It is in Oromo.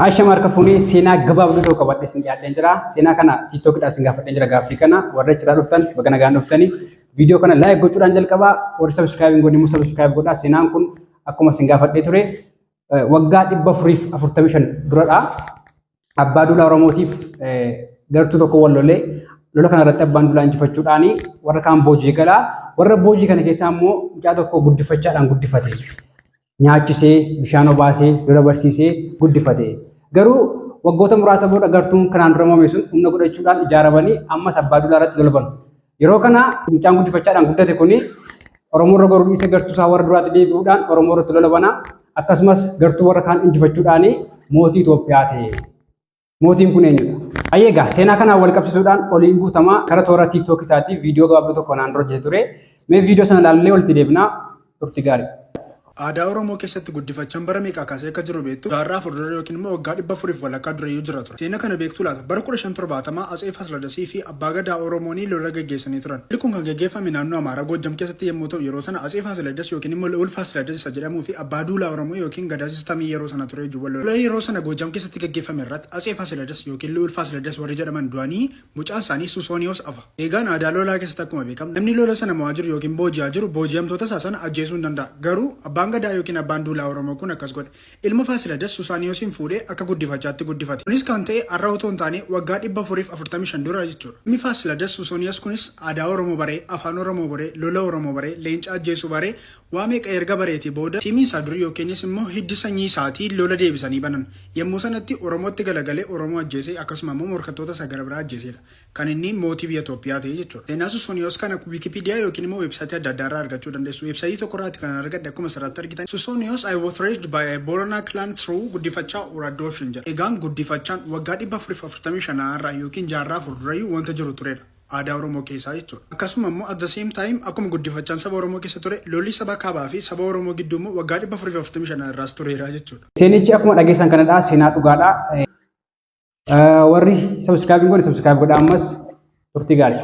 Aasha Marka Funee seenaa gabaabduu tokko qabadhee isin dhiyaadheen jira. Seenaa kana TikTokidhaan isin gaafadheen jira gaaffii kana. Warra achiraa dhuftan baga nagaan dhuftanii. Viidiyoo kana laayik gochuudhaan jalqabaa. Warri sabiskiraayib hin godhin immoo sabiskiraayib godhaa. Seenaan kun akkuma isin gaafadhee ture waggaa dhibba afuriif afurtamii shan duradha. Abbaa Duulaa Oromootiif gartuu tokko wal lolee lola kana irratti abbaan Duulaa injifachuudhaan warra kaan boojii galaa. Warra boojii kana keessaa immoo mucaa tokko guddifachaadhaan guddifate. nyaachisee bishaan obaasee lola barsiisee guddifate. Garuu waggoota muraasa booda gartuun kanaan dura moome sun humna godhachuudhaan ijaaramanii ammas abbaa duulaa irratti lola banu. Yeroo kana mucaan guddifachaadhaan guddate kuni Oromoo irra goruu dhiisee gartuu isaa warra duraatti deebi'uudhaan Oromoo irratti lola bana. Akkasumas gartuu warra kaan injifachuudhaan mootii Itoophiyaa ta'e. Mootiin kun eenyudha? Ayyee egaa seenaa kanaan wal qabsiisuudhaan oliin guutamaa gara toora TikTok isaatii viidiyoo gabaabduu tokko naan dura hojjete ture. Mee viidiyoo sana ilaallee walitti deebinaa turti gaarii. Aadaa Oromoo keessatti guddifachaan bara meeqaa kaasee akka jiru beektu? Jaarraa afur dura yookiin immoo waggaa dhibba afuriif walakkaa durayyuu jira ture. Seena kana beektuu laata? Bara 1570 Atsee Faasiladasii fi Abbaa Gadaa Oromoonii lola geggeessanii turan. Lolli kun kan geggeeffame naannoo Amaaraa Goojjam keessatti yemmuu ta'u yeroo sana Atsee Faasiladas ykn immoo Li'uul Faasiladas isa jedhamuu fi Abbaa Duulaa Oromoo ykn Gadaa Sistamii yeroo sana ture juba lola. Lola yeroo sana Goojjam keessatti geggeeffame irratti Atsee Faasiladas ykn Li'uul Faasiladas warri jedhaman du'anii mucaan isaanii Suusooniyoos afa. Eegaan aadaa lolaa keessatti akkuma beekamu namni lola sana mo'aa jiru ykn booji'aa jiru booji'amtoota isaa sana ajjeesuu ni danda'a. Garuu Abbaan Gadaa ykn Abbaan Duulaa Oromoo kun akkas godhe. Ilma Faasiladas Susaaniyoosiin fuudhee akka guddifachaatti guddifate. Kunis kan ta'e har'a otoo hin taane waggaa 445 dura jechuudha. Ilmi Faasiladas Susooniyoos kunis aadaa Oromoo baree, afaan Oromoo baree, lola Oromoo baree, leenca ajjeesuu baree, waa meeqa erga bareetii booda, tiimii isaa durii yookiinis immoo hiddi sanyii isaatii lola deebisanii banan. Yemmuu sanatti Oromootti galagalee Oromoo ajjeese, akkasuma immoo morkattoota isaa gara biraa ajjeeseedha. kan inni mootii biyya Toophiyaa ta'e jechuudha. Seenaa Susooniyoos kana Wikipedia yookiin immoo website adda addaa irraa argachuu dandeessu. Website tokko irraati kanan argadhe akkuma asirratti argitan Susooniyoos I was raised by a Borana clan through guddifachaa or adoption jedha. Egaan guddifachaan waggaa 445 a irraa yookiin jaarraa 4 durayyuu wanta jiru turedha. Aadaa Oromoo keessaa jechuudha. Akkasuma immoo at the same time akkuma guddifachaan saba Oromoo keessa ture lolli saba kaabaa fi saba Oromoo gidduu immoo waggaa 445 a irraas tureera jechuudha. Seenichi akkuma dhageessan kanadha seenaa dhugaadha. Warri subscribe hin godhe subscribe godhaa ammas turtii gaarii.